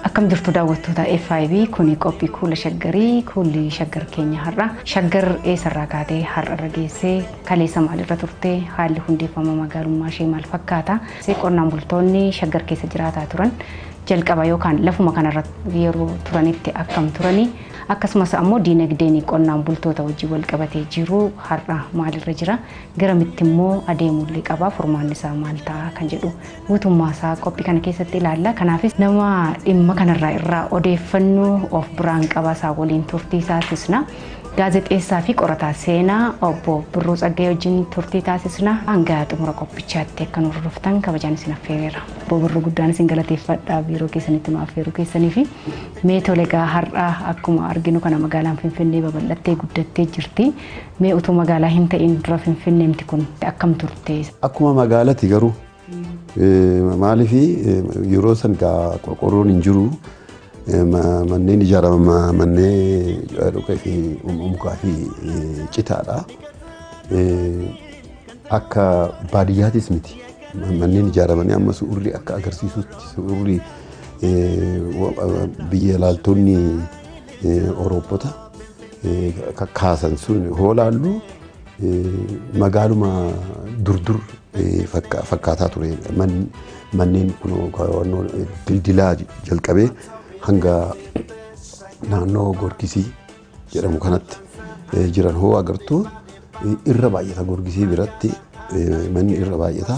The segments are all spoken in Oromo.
Akkam jirtu daawwattoota FIB kuni qophii kuula shaggarii kuulli shaggar keenya har'a shaggar eessarraa kaatee har'arra geessee kaleessa maalirra turte haalli hundeeffama magaalummaa ishee maal fakkaata see qonnaan bultoonni shaggar keessa jiraataa turan jalqaba yookaan lafuma kanarra yeroo turanitti akkam turanii Akkasumas ammoo diinagdeen qonnaan bultoota wajjin walqabatee jiru har'a maalirra jira? Garamittimmoo adeemuullee qabaa? Furmaannisaa maal ta'a? Kan jedhu guutummaasaa qophii kana keessatti ilaalla. Kanaafis nama dhimma kanarraa irraa odeeffannu of biraan qaba. Isaa waliin turtii taasisna. Gaazexeessaa fi qorataa seenaa obbo Birruu Tsaggayee wajjin turtii taasisna. Hanga xumura qophichaatti akka nu hordoftan kabajaan isin affeereera. Obbo Birruu guddaan isin galateeffadha biiroo keessanitti nu affeeruu keessanii fi Mee tole egaa har'a akkuma arginu kana magaalaan Finfinnee babal'attee guddattee jirti. Mee utuu magaalaa hin ta'iin dura Finfinneemti kun akkam turte? Akkuma magaalati garuu maaliif yeroo san gaa qorqorroon hin jiru manneen ijaarama manneen dhukkee fi mukaa fi citaadha. Akka baadiyyaatis miti. Manneen ijaaramanii amma suurri akka agarsiisutti suurri biyya ilaaltonni Awurooppota kaasan sun hoo laallu magaaluma durdur fakkaataa ture. Manneen kun dildilaa jalqabee hanga naannoo Goorkisii. jedhamu kanatti jiran hoo agartu irra baay'ata gorgisii biratti manni irra baay'ata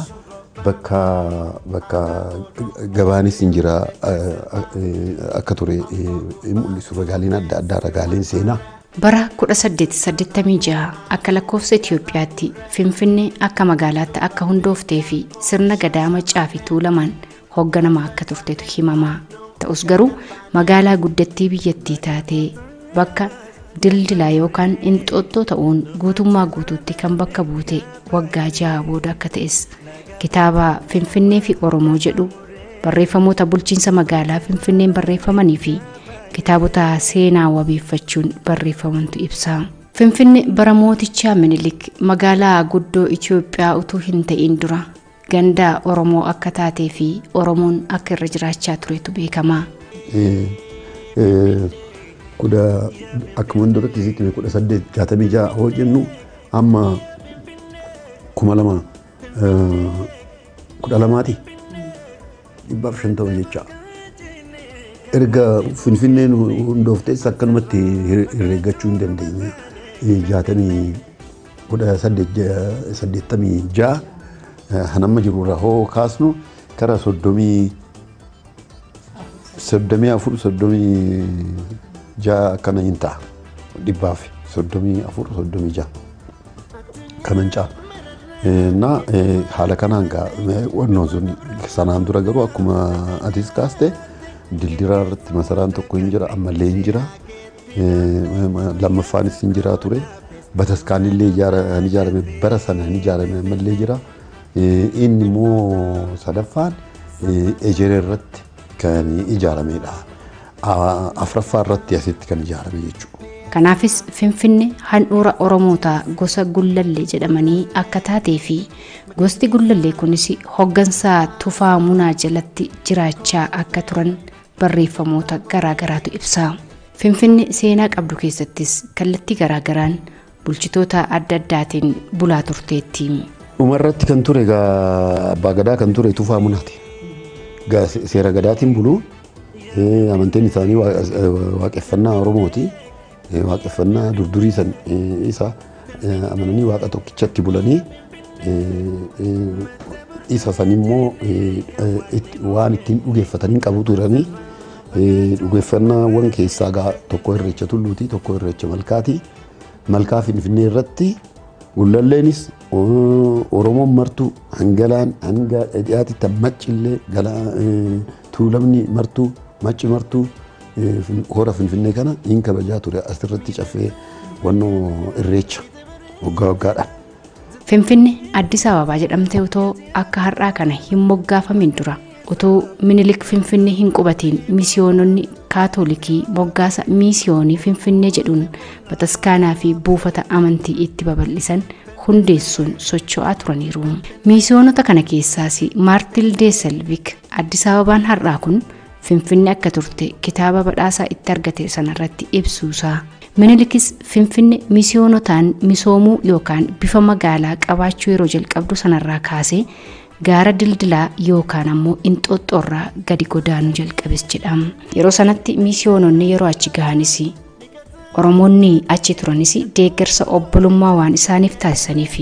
bakka bakka gabaanis hin jira akka ture hin mul'isu ragaaleen adda addaa ragaaleen seenaa. Bara 1886 akka lakkoofsa Itoophiyaatti Finfinnee akka magaalaatti akka hundooftee fi sirna gadaa Maccaa fi Tuulamaan hoogganamaa akka turtetu himamaa ta'us garuu magaalaa guddattii biyyattii taatee bakka dildilaa yookaan inxooxxoo ta'uun guutummaa guutuutti kan bakka buute waggaa ja'a booda akka ta'es kitaaba finfinnee fi oromoo jedhu barreeffamoota bulchiinsa magaalaa finfinneen barreeffamanii fi kitaabota seenaa wabeeffachuun barreeffamantu ibsa. Finfinne bara mootichaa minilik magaalaa guddoo Itoophiyaa utuu hin ta'in dura gandaa Oromoo akka taatee fi Oromoon akka irra jiraachaa turetu beekama. Kudha akkuma duratti sitti hime kudha saddeet jaatamii ja'a hoo jennu amma kuma lama kudha lamaati. 150 jecha erga finfinneen hundooftes akkanumatti herreeggachuu hin dandeenye. 1886 hanamma jiru irraa hoo kaasnu kara 30 soddomii afur soddomii ja'a akkana hin ta'a dhibbaaf soddomii afur soddomii ja'a. ka mancaa. Na haala kanaan gaa wannoon sun sanaan dura garuu akkuma atis kaaste dildiraa irratti masaraan tokko hin jira ammallee hin jira. Lammaffaanis hin jira ture. Bataskaanillee hin ijaarame bara sana hin ijaarame ammallee jira. Inni immoo sadaffaan ejeree irratti kan ijaarameedha. Afraffaa irratti asitti kan ijaarame jechuudha. Kanaafis Finfinne handhuura Oromoota gosa Gullallee jedhamanii akka taatee fi gosti Gullallee kunis hoggansa Tufaa Munaa jalatti jiraachaa akka turan barreeffamoota garaagaraatu ibsa. Finfinne seenaa qabdu keessattis kallattii garaagaraan bulchitoota adda addaatiin bulaa turteetti. Dhuma irratti kan ture egaa abbaa gadaa kan ture Tufaa Munaati. Egaa se- seera gadaatiin bulu eh, amantiin isaanii waa- eh, waaqeffannaa Oromooti. Eh, Waaqeffannaa durdurii san eh, isa eh, amananii waaqa tokkichatti bulanii eh, eh, isa san immoo eh, eh, itti- waan ittiin dhugeeffatanii qabu turanii eh, dhugeeffannaawwan keessaa gaa tokko irreecha tulluuti tokko irreecha malkaati. Malkaa Finfinnee irratti Gullalleenis Oromoon martuu hangalaan hanga dhiyaati tan maccillee tuulamni martuu macci martuu hora Finfinnee kana hin kabajaa ture asirratti caffee wannoo irreecha waggaa waggaadhaan. Finfinne Addis Ababaa jedhamte utoo akka har'aa kana hin moggaafamin dura utuu Minilik Finfinnee hin qubatiin misiyoononni kaatoolikii moggaasa miisiyoonii Finfinnee jedhuun bataskaanaa fi buufata amantii itti babal'isan hundeessuun socho'aa turaniiru. Miisiyoonota kana keessaas Maartil Deeselvik Addis Ababaan har'aa kun Finfinne akka turte kitaaba badhaasaa itti argate sanarratti ibsuusaa Minilikis Finfinne misiyoonotaan misoomuu yookaan bifa magaalaa qabaachuu yeroo jalqabdu sanarraa kaasee gaara dildilaa yookaan ammoo inxooxxoorraa gadi godaanuu jalqabes jedhama. Yeroo sanatti misiyoononni yeroo achi gahanis Oromoonni achi turanis deeggarsa obbolummaa waan isaaniif taasisaniif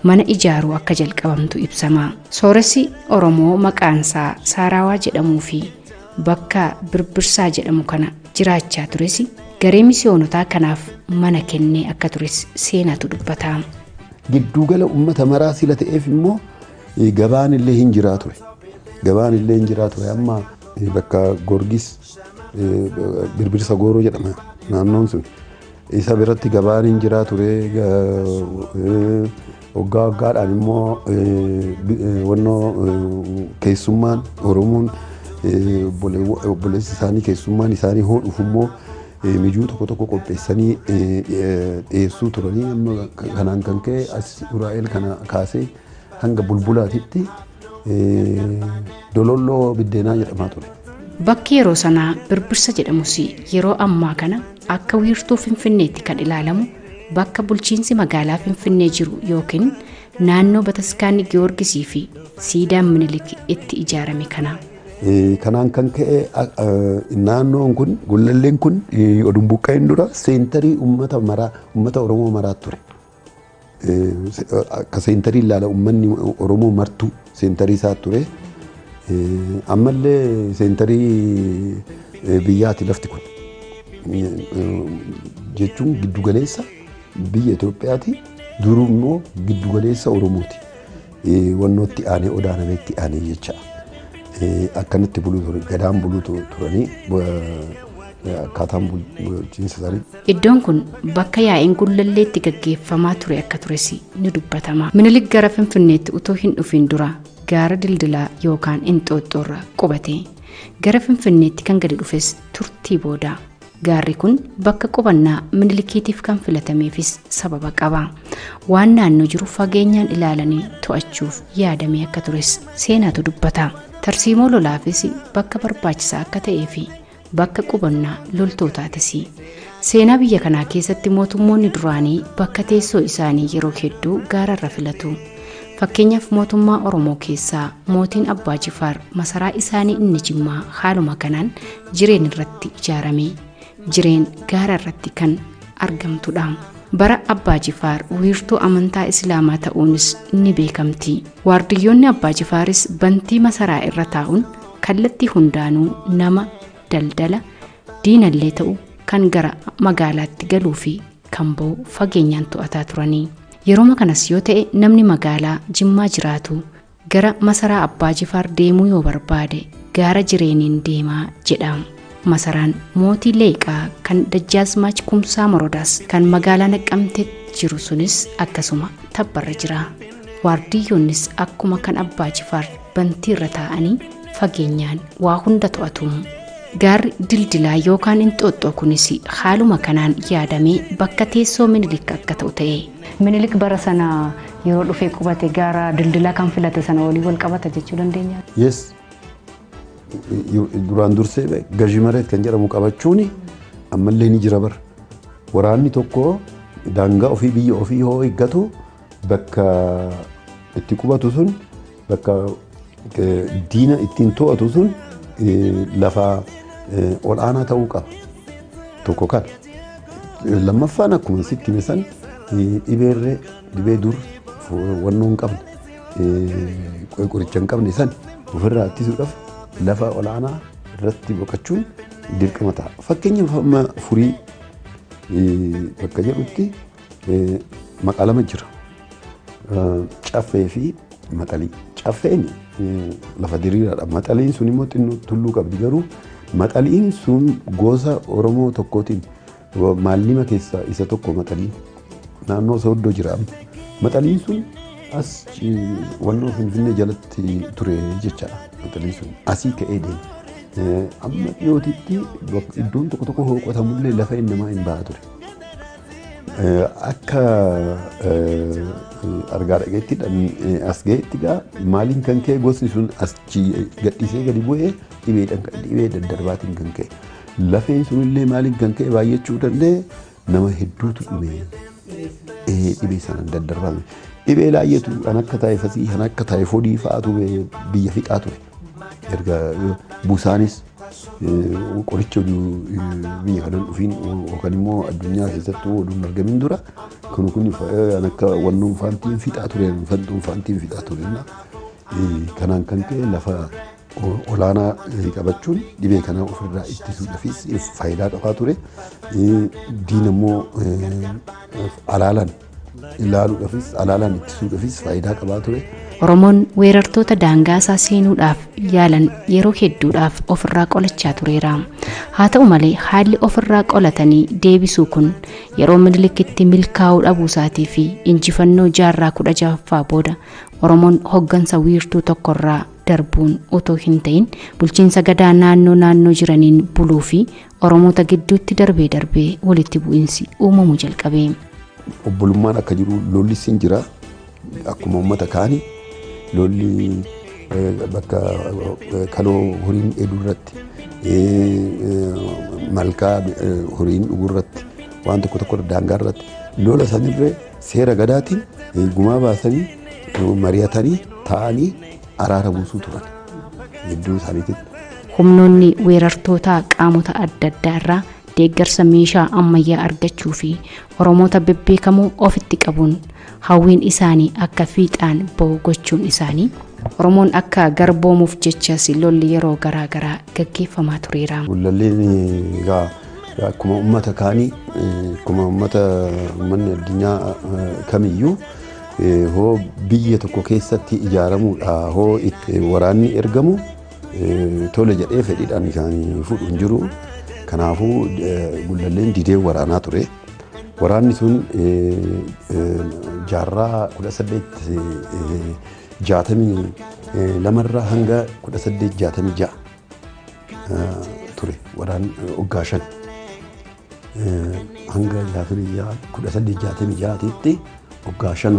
mana ijaaruu akka jalqabamtu ibsama. Sooressi Oromoo maqaansaa Saaraawaa jedhamuu fi bakka Birbirsaa jedhamu kana jiraachaa tures garee misiyoonotaa kanaaf mana kennee akka tures seenaatu dubbata. Gidduugala uummata maraa sila ta'eef immoo gabaan illee hin jiraa ture. Gabaan illee hin jiraa ture amma bakka Gorgis Birbirsa Gooroo jedhama naannoon sun. Isa biratti gabaan hin jiraa ture. Waggaa waggaadhaan immoo wannoo keessummaan Oromoon obboleessi isaanii keessummaan isaanii hoo dhufu immoo mijuu tokko tokko qopheessanii dhiyeessuu turanii amma kanaan kan ka'e as Uraa'el kana kaasee hanga bulbulaatitti Dololloo biddeenaa jedhamaa ture. Bakki yeroo sanaa Birbirsa jedhamus yeroo ammaa kana akka wiirtuu Finfinneetti kan ilaalamu bakka bulchiinsi magaalaa Finfinnee jiru yookiin naannoo Bataskaanni Giyoorgisii fi siidaan Minilik itti ijaarame kana. Kanaan kan ka'e naannoon kun gullalleen kun oduu hin buqqa'in dura seentarii uummata maraa uummata Oromoo maraa ture. Akka seentarii ilaala uummanni Oromoo martuu seentarii isaa ture. Ammallee seentarii biyyaati lafti kun. Jechuun giddugaleessa biyya Itoophiyaati. Duruu immoo giddugaleessa Oromooti. Wannoo itti aanee odaa namee itti aanee jecha akkanitti buluu ture gadaan buluu turanii akkaataan bulchiinsa isaanii. Iddoon kun bakka yaa'iin gullallee itti gaggeeffamaa ture akka tures ni dubbatama. Minilik gara Finfinneetti utuu hin dhufin dura gaara dildilaa yookaan inxooxxoorra qubate. Gara Finfinneetti kan gadi dhufes turtii booda. Gaarri kun bakka qubannaa Minilikiitiif kan filatameefis sababa qaba. Waan naannoo jiru fageenyaan ilaalanii to'achuuf yaadamee akka tures seenaatu dubbata. Tarsiimoo lolaafis bakka barbaachisaa akka ta'ee fi bakka qubannaa loltootaatis. Seenaa biyya kanaa keessatti mootummoonni duraanii bakka teessoo isaanii yeroo hedduu gaararra filatu. Fakkeenyaaf mootummaa Oromoo keessaa mootiin Abbaa Jifaar masaraa isaanii inni Jimmaa haaluma kanaan jireen irratti ijaarame jireen gaara irratti kan argamtudha bara abbaa jifaar wiirtuu amantaa islaamaa ta'uunis ni beekamti waardiyyoonni abbaa jifaaris bantii masaraa irra taa'uun kallattii hundaanuu nama daldala diinallee ta'u kan gara magaalaatti galuu fi kan ba'u fageenyaan to'ataa turanii yeroma kanas yoo ta'e namni magaalaa jimmaa jiraatu Gara masaraa Abbaa Jifaar deemuu yoo barbaade gaara jireeniin deemaa jedha. Masaraan mootii Leeqaa kan Dajjaazmaach Kumsaa Morodaas kan magaalaa Naqqamteetti jiru sunis akkasuma tabbarra jira. Waardiyyoonnis akkuma kan Abbaa Jifaar bantiirra taa'anii fageenyaan waa hunda to'atu. Gaarri dildilaa yookaan inxooxxoo kunis haaluma kanaan yaadamee bakka teessoo minilik akka ta'u ta'e. Minilik bara sana yeroo dhufee qubate gaara dildilaa kan filate sana waliin wal qabata jechuu dandeenya. Yes. Duraan dursee be- gazhi mareet kan jedhamu qabachuun ammallee ni jira bara. Waraanni tokko daangaa ofii biyya ofii yoo eeggatu bakka itti qubatu sun Bakka diina ittiin to'atu sun lafa ol'aanaa ta'uu qaba. Tokko kan lammaffaan akkuma sitti hime san dhibeerree dhibee dur wannoo hin qabne qoricha hin qabne san ofirraa ittisuudhaaf lafa ol'aanaa irratti boqachuun dirqama ta'a. Fakkeenyaaf amma furii bakka jedhutti Maqaa lama jira. Caffee fi maxalii. Caffeen lafa diriiraadha. Maxaliin sun immoo xinnoo tulluu qabdi garuu maxaliin sun gosa Oromoo tokkootiin maallima keessaa isa tokko maxaliin. Naannoo Sooddoo jira. Maxaliin sun as wannoo Finfinnee jalatti ture jechaadha. Maxaliin sun asii ka'ee deema. Amma dhiyootitti iddoon tokko tokko hooqotamullee lafa namaa hin baha ture. Akka argaa dhageetti as ga'etti gaa maaliin kan ka'e gosti sun as gadhiisee gadi bu'ee dhibeedhaan kan dhibee daddarbaatiin kan ka'e. Lafeen sun illee maaliin kan ka'e baay'achuu danda'e nama hedduutu dhibee dhibee sanaan daddarbame. Dhibee laayyeetu kan akka taayifasii kan akka taayifodii fa'aatu biyya fixaa ture. Erga busaanis qoricha oduu biyya kanan dhufiin yookaan immoo addunyaa keessatti oduu hin argamin dura kun kun kan akka wannoon faantiin fixaa tureen fantuun faantiin fixaa tureen kanaan kan ka'e lafa olaanaa qabachuun dhibee kanaa ofirraa ittisuudhaafis faayidaa qabaa ture diina immoo alaalaan ilaaluudhaafis alaalaan ittisuudhaafis faayidaa qabaa ture. Oromoon weerartoota daangaasaa seenuudhaaf yaalan yeroo hedduudhaaf ofirraa qolachaa tureera. Haa ta'u malee haalli ofirraa qolatanii deebisuu kun yeroo Minilikitti milkaa'uu dhabuusaatii fi injifannoo jaarraa kudha jahaffaa booda Oromoon hoggansa wiirtuu tokkorraa darbuun otoo hin ta'in bulchiinsa gadaa naannoo naannoo jiraniin buluu fi Oromoota gidduutti darbee darbee walitti bu'insi uumamuu jalqabe. Obbolummaan akka jiru lolli sin jira akkuma uummata kaani lolli eh, bakka eh, kaloo horiin dheeduu irratti eh, eh, malkaa eh, horiin dhuguu irratti waan tokko tokko irra daangaa irratti lola sanirree seera gadaatiin eh, gumaa baasanii eh, mari'atanii taa'anii araara buusuu turan gidduu isaaniititti. Humnoonni weerartootaa qaamota adda addaa irraa deeggarsa meeshaa ammayyaa argachuu fi Oromoota bebbeekamoo ofitti qabuun hawwiin isaanii akka fiixaan ba'u gochuun isaanii Oromoon akka garboomuuf jechas lolli yeroo garaa garaa gaggeeffamaa tureera. Gullalleen egaa akkuma uummata kaanii akkuma uummata uummanni addunyaa kamiyyuu hoo biyya tokko keessatti ijaaramuudha hoo itti waraanni ergamu tole jedhee fedhiidhaan kan fudhu hin jiru. Kanaafuu gullalleen didee waraanaa ture. Waraanni sun jaarraa kudha saddeet jaatamii lamarraa hanga kudha saddeet jaatamii ja'a ture waraan waggaa shan. hanga gaafa biyya kudha saddeet jaatamii ja'aatiitti waggaa shan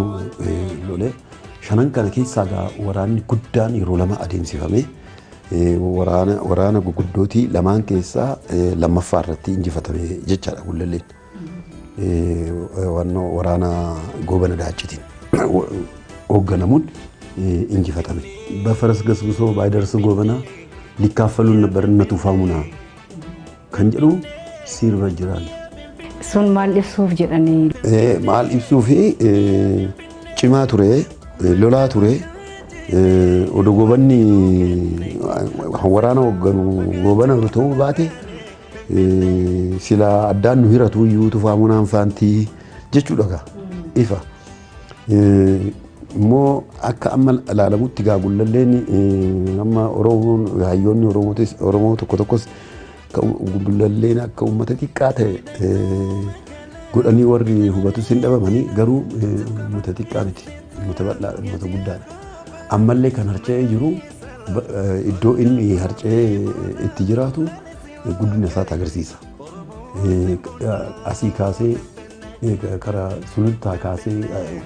lole. Shanan kana keessaa gaa waraanni guddaan yeroo lama adeemsifame. Waraana waraana gurguddootti lamaan keessaa lammaffaa irratti injifatame jechaadha Gullalleen. Wannoo waraana goobana daachitiin hoogganamuun injifatame. Bafaras gasgusoo baaydarsa goobanaa likkaaffaluun barna tuufaamunaa. Kan jedhu sirba jiran. Sun maal ibsuuf jedhanii? Eh, Maal ibsuu fi eh, cimaa ture, eh, lolaa ture. eh, Odoo gobanni eh, waraana hoogganu goobana yoo ta'uu baate eh, sila addaan nu hiratu iyyuu tufaa munaan faantii jechuudha gaa ifa. Immoo akka amma ilaalamutti gaa gullalleen amma Oromoon hayyoonni Oromootis Oromoo tokko tokkos gullalleen akka uummata xiqqaa ta'e godhanii warri hubatus hin dhabamanii garuu uummata xiqqaa miti uummata bal'aa uummata guddaadha. Ammallee kan harca'ee jiru iddoo inni harca'ee itti jiraatu guddina isaati agarsiisa. Asii kaasee Karaa sulultaa kaasee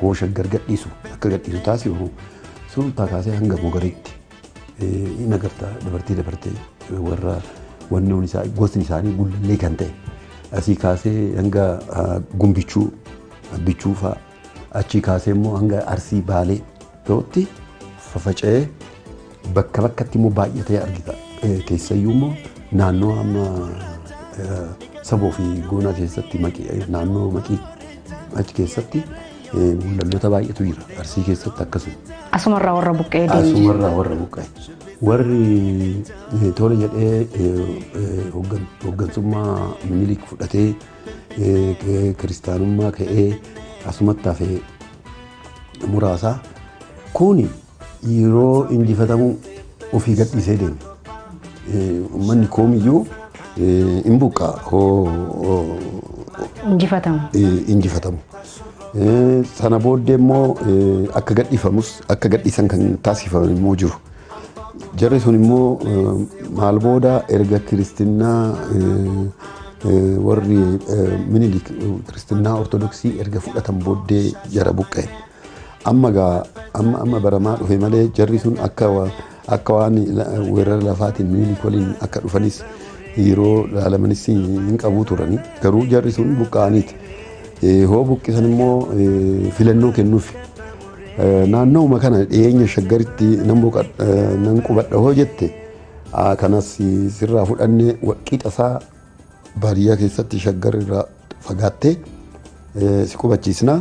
hoo shaggar gadhiisu akka gadhiisu taasifamu sulultaa kaasee hanga mogariitti in agarta dabartee dabartee warra wannoon isaa gosni isaanii gullallee kan ta'e asii kaasee hanga gumbichuu abbichuu fa'aa achii kaasee immoo hanga arsii baalee ta'utti fafaca'ee bakka bakkatti immoo baay'atee argita. Eh, Keessayyuu immoo naannoo amma eh, saboo fi goonaa keessatti maqii- eh, naannoo maqii achi keessatti eh, mul'annoota baay'eetu jira. Arsii keessatti akkasuma. Asumarraa warra buqqee deemu. Asumarraa warra buqqa'e. Warri eh, tola jedhee eh, eh, hooggan- hooggansummaa minilik fudhatee eh, ke- kiristaanummaa ka'ee asumatti hafee muraasaa kuni yeroo injifatamuu ofii gadhiisee deeme. Uummanni koomiyyuu hin buqqaa injifatamu. injifatamu. Sana booddee immoo akka gadhiifamus akka gadhiisan kan taasifaman immoo jiru. Jarri sun immoo maal booda erga kiristinnaa warri minilik kiristinnaa ortodoksii erga fudhatan booddee jara buqqa'e. Amma gaa amma amma baramaa dhufe malee jarri sun akka akka waan weerara lafaatiin minilik waliin akka dhufanis yeroo laalamanis hin qabu turani. Garuu jarri sun buqqa'aniiti. Hoo buqqisan immoo filannoo kennuufi. Naannooma kana dhiyeenya shaggaritti nan boqadha nan qubadha hoo jette aa, kanas sirraa fudhanne qixa isaa baadiyyaa keessatti shaggar irraa fagaattee eh, si qubachiisna.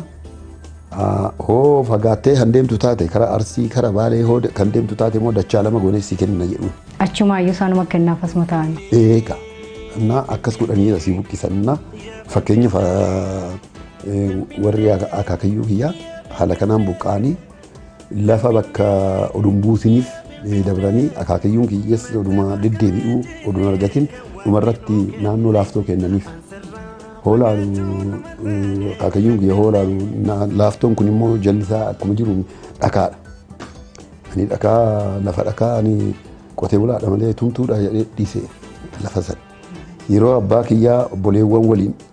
Aa, Hoo fagaattee kan deemtu taate karaa Arsii karaa Baalee hoo de- kan deemtu taate immoo dachaa lama goonee si kenna jedhuun. Achumaayyuu isaanuma kennaaf asuma ta'an. Eega. Kanaaf akkas godhanii asii buqqisannaa fakkeenyaaf ah, Warri akaakayyuu kiyyaa haala kanaan buqqa'anii lafa bakka oduun buusiniif dabranii akaakayyuun kiyyas oduma deddeebi'uu oduun argatin dhumarratti naannoo laaftoo kennaniif. Hoolaalu akaakayyuun kiyya hoolaalu laaftoon kun immoo jalli isaa akkuma jiru dhakaadha. Ani dhakaa lafa dhakaa ani qotee bulaadha malee tumtuudha jedhee dhiise lafa sana. Yeroo abbaa kiyyaa obboleewwan waliin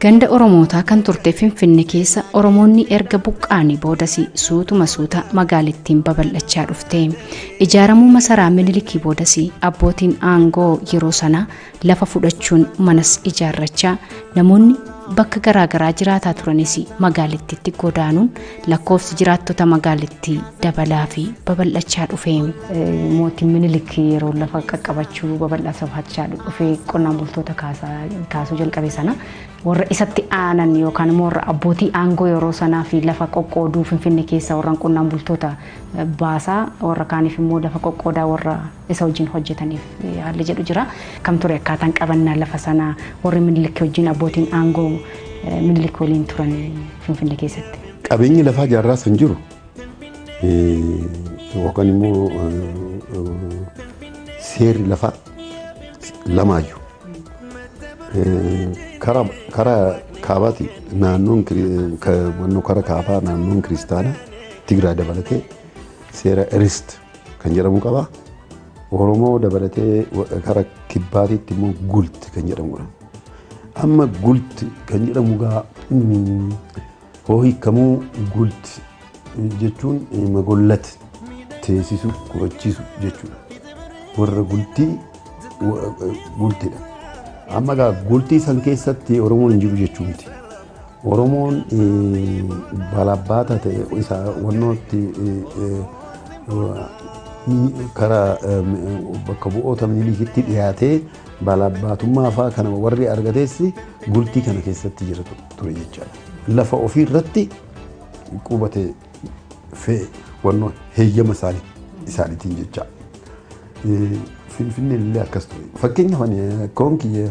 Ganda Oromootaa kan turte Finfinne keessa Oromoonni erga buqqaanii boodas suutuma suuta magaalittiin babal'achaa dhufte. Ijaaramuu masaraa Minilikii boodas abbootiin aangoo yeroo sanaa lafa fudhachuun manas ijaarrachaa namoonni bakka garaagaraa jiraataa turanis magaalittiitti godaanuun lakkoofsi jiraattota magaalittii dabalaa fi babal'achaa dhufe. Mootiin Minilik yeroo lafa qaqqabachuu babal'achaa dhufe qonnaan bultoota kaasuu jalqabe sana warra isatti aanan yookaan immoo warra abbootii aangoo yeroo sanaa fi lafa qoqqooduu Finfinnee keessa warran qonnaan bultoota baasaa warra kaaniif immoo lafa qoqqoodaa warra isa wajjin hojjetaniif haalli jedhu jira. Kam ture akkaataan qabannaa lafa sanaa warri Minilik wajjin abbootiin aangoo Minilik waliin turan Finfinnee keessatti? Qabeenyi lafaa jaarraa san jiru yookaan immoo seerri lafaa lamaayyu. Karaa kaabaati naannoon karaa kaabaa naannoon kiristaanaa Tigraay dabalatee seera Irist kan jedhamu qaba. Oromoo dabalatee kara kibbaatiitti immoo gulti kan jedhamudha. Amma gulti kan jedhamu gaa hoo hiikamuu gulti jechuun magollati teessisuu qubachiisu jechuudha. Warra gultii gultidha. Amma gaa gultii san keessatti Oromoon hin jiru jechuu miti. Oromoon balabbaata ta'e isa wannootti karaa bakka bu'oota milikitti dhiyaatee balabbaatummaa fa'aa kana warri argates bultii kana keessatti jira ture jechaadha. Lafa ofii irratti qubate fe'e wannoo heeyyama isaanii isaaniitiin jecha. Finfinneen illee akkas ture. Fakkeenyaaf koon kiyya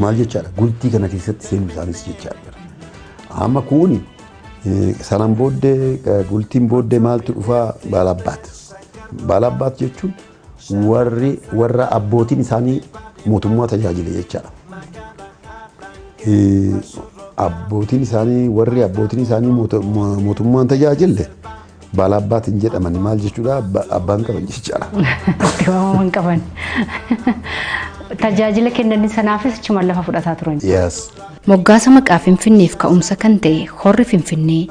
Maal jechaadha? Gultii kana keessatti seenuu isaaniis jechaa jira. Amma kuuni eh, sanaan booddee eh, gultiin booddee maaltu dhufaa baalabbaat. Baalabbaat jechuun warri warra abbootiin isaanii mootummaa tajaajile jechaadha. Eh, Abbootiin isaanii warri abbootiin isaanii moota- mo- mootummaan tajaajille Baalaabbaat hin jedhamani maal jechuudha abbaa hin qaban jechaadha. Itti waamama hin qaban. Tajaajila kennanii sanaafis achuma lafa fudhataa turan. Yes. Moggaasa maqaa Finfinneef ka'umsa kan ta'e horri Finfinnee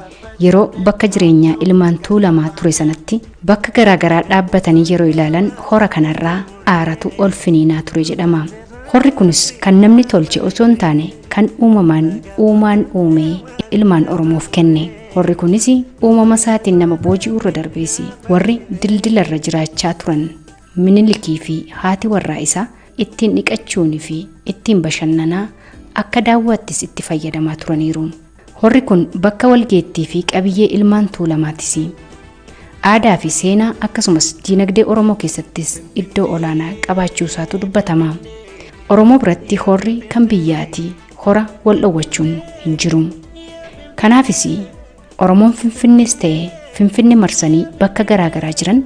yeroo bakka jireenyaa ilmaan Tuulamaa ture sanatti bakka garaagaraa dhaabbatanii yeroo ilaalan hora kanarraa aaratu ol finiinaa ture jedhama. Horri kunis kan namni tolche osoo hin taane kan uumamaan uumaan uumee ilmaan Oromoof kenne. Horri kunis uumama isaatiin nama booji'uu irra darbees warri dildila irra jiraachaa turan minilikii fi haati warraa isaa ittiin dhiqachuunii fi ittiin bashannanaa akka daawwaattis itti fayyadamaa turaniiru. Horri kun bakka walgeettii fi qabiyyee ilmaan Tuulamaatis. Aadaa fi seenaa akkasumas diinagdee Oromoo keessattis iddoo olaanaa qabaachuu isaatu dubbatama. Oromoo biratti horri kan biyyaati. hora wal dhowwachuun hin jiru. Kanaafis Oromoon Finfinnees ta'e Finfinne marsanii bakka garaa garaa jiran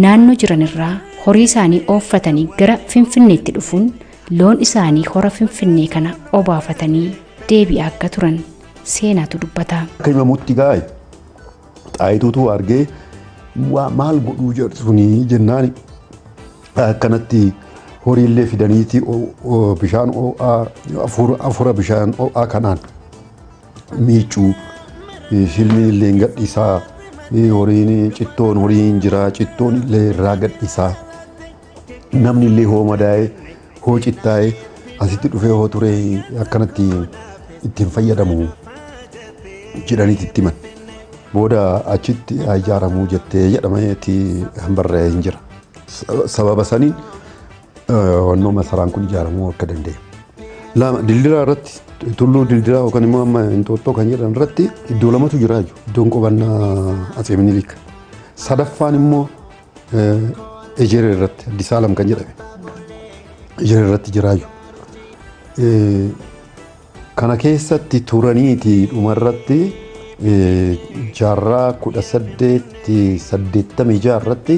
naannoo jiran irraa horii isaanii ooffatanii gara Finfinneetti dhufuun loon isaanii hora Finfinnee kana obaafatanii deebi'aa akka turan seenaatu dubbata. Akka himamutti gaa'e Xaayituutu argee waa maal godhuu jedhu sunii jennaan akkanatti horiillee fidaniiti bishaan oo'aa afura bishaan oo'aa kanaan miicuu silmiin illee gadhiisaa horiin cittoon horiin jiraa cittoon illee irraa gadhiisaa. namni illee hoo madaa'ee hoo cittaa'ee asitti dhufee hoo turee akkanatti ittiin fayyadamu jedhaniiti itti himan. Booda achitti haa ijaaramuu jettee jedhameeti kan barreeffamee hin jira. Sa- Sababa saniin eh, wannoo masaraan kun ijaaramuu akka danda'e. Lama dildiraa irratti tulluu dildiraa yookaan immoo amma inxooxxoo kan jedhan irratti iddoo lamatu jira jechuudha. Iddoon qubannaa Atsee Minilik. Sadaffaan immoo Ejeree irratti Addis Alam kan jedhame ejeree irratti jiraayyu. Kana keessatti turaniiti dhumarratti jaarraa kudha saddeetti saddeettamii jaha irratti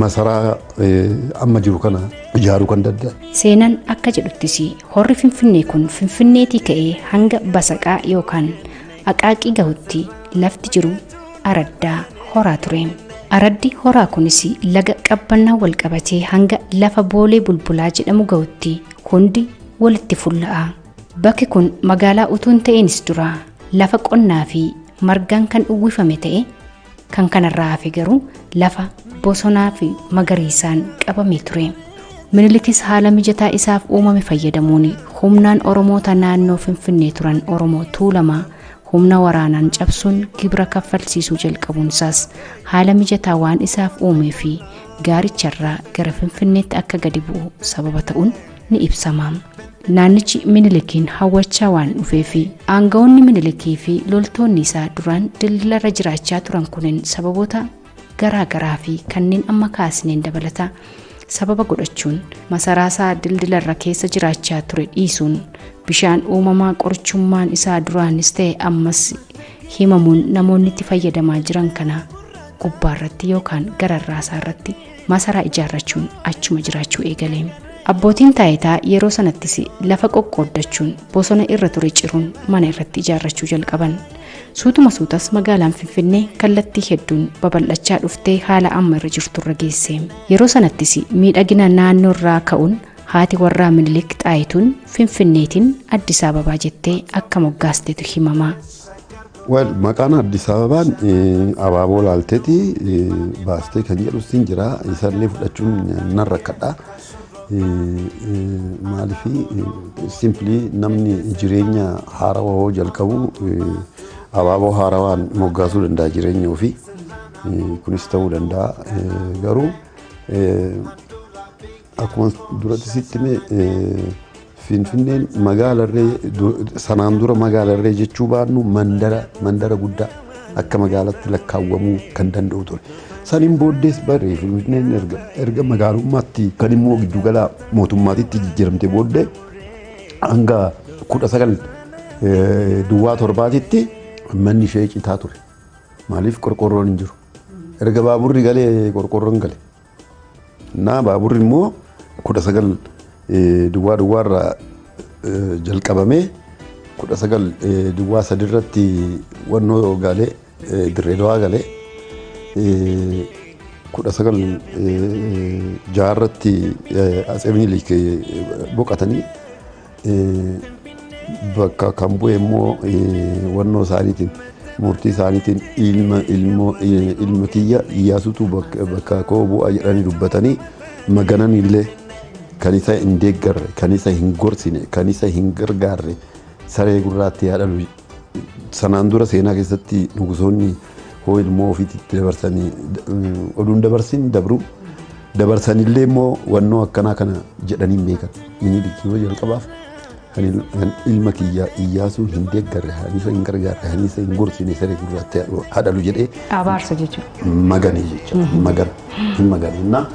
masaraa amma jiru kana ijaaruu kan danda'an. Seenan akka jedhuttis horri Finfinnee kun Finfinneetii ka'ee hanga Basaqaa yookaan Aqaaqii gahutti lafti jiru araddaa horaa ture. Araddi horaa kunis laga qabbannaa wal qabatee hanga lafa boolee bulbulaa jedhamu ga'utti hundi walitti fulla'a. Bakki kun magaalaa utuu hin ta'iinis dura lafa qonnaa fi margaan kan uwwifame ta'e kan kanarraa hafe garuu lafa bosonaa fi magariisaan qabamee ture. Minilikis haala mijataa isaaf uumame fayyadamuun humnaan Oromoota naannoo Finfinnee turan Oromoo Tuulamaa humna waraanaan cabsuun gibira kaffalsiisuu jalqabuun isaas haala mijataa waan isaaf uumee fi gaaricharraa gara Finfinneetti akka gadi bu'u sababa ta'uun ni ibsama. Naannichi Minilikiin hawwachaa waan dhufee fi aanga'oonni Minilikii fi loltoonni isaa duraan dildilarra jiraachaa turan kunin sababoota garaa garaa fi kanneen amma kaasneen dabalata sababa godhachuun masaraasaa dildilarra keessa jiraachaa ture dhiisuun bishaan uumamaa qorichummaan isaa duraanis ta'e ammas himamuun namoonni itti fayyadamaa jiran kana gubbaarratti yookaan gararraasaarratti Masaraa ijaarrachuun achuma jiraachuu eegale. Abbootiin taayitaa yeroo sanattis lafa qoqqooddachuun bosona irra ture ciruun mana irratti ijaarrachuu jalqaban. Suutuma suutas magaalaan Finfinnee kallattii hedduun babal'achaa dhuftee haala amma irra jirturra geesse. Yeroo sanattis miidhagina naannoorraa ka'uun haati warraa Minilik Xaayituun Finfinneetiin Addis Ababaa jettee akka moggaastetu himama. Well, maqaan Addis Ababaan eh, abaaboo laalteeti eh, baastee kan jedhu siin jira isaallee fudhachuun nan rakkadha. Eh, eh, Maaliif eh, simply namni jireenya haarawaa hoo jalqabu eh, abaaboo haarawaan moggaasuu danda'a jireenya ofii. Eh, Kunis ta'uu danda'a Eh, garuu eh, Akkuma duratti sitti hime Finfinneen magaalarree sanaan dura magaalarree jechuu baannu mandara mandara guddaa akka magaalatti lakkaawwamuu kan danda'u ture. Saniin booddees barree Finfinneen erga erga magaalummaatti kan immoo giddugala mootummaatitti jijjiiramte booddee hanga kudha sagal duwwaa torbaatitti manni ishee citaa ture. Maaliif qorqoorroon hin jiru. Erga baaburri galee qorqoorroon gale. Naa baaburri immoo kudha sagal duwwaa duwwaa irraa jalqabamee kudha sagal duwwaa sadi irratti wannoo gaalee dirree dawaa galee kudha sagal jaha irratti atsee minilik boqatanii bakka kan bu'e immoo wannoo isaaniitiin murtii isaaniitiin ilma ilmoo ilma kiyya iyyaasutu bakka koo bu'a jedhanii dubbatanii maganan illee kan isa hin deeggarre kan isa hin gorsine kan isa hin gargaarre saree gurraatti haa dhalu Sanaan dura seenaa keessatti nugusoonni hoo ilmoo ofiititti dabarsanii oduun dabarsin dabru dabarsanillee immoo wannoo akkanaa kana jedhanii hin beekan. Minilik yoo jalqabaaf kan ilma kiyya iyyaasuu hin deeggarre haniisa hin gargaarre haniisa hin gorsine saree gurraatti haadhalu jedhee Abaarsa jechuudha. magane jecha magan hin magane innaa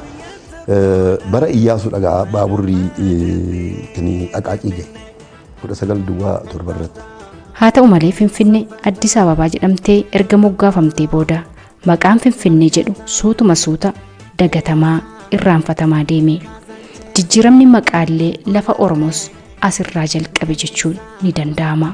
bara iyyaasuu dhagaa baaburri kan aqaaqii gahe 19 duwwaa 7 irratti. Haa ta'u malee Finfinnee Addis Ababaa jedhamtee erga moggaafamtee booda maqaan Finfinnee jedhu suutuma suuta dagatamaa irraanfatamaa deeme. Jijjiiramni maqaallee lafa Oromoos asirraa jalqabe jechuun ni danda'ama.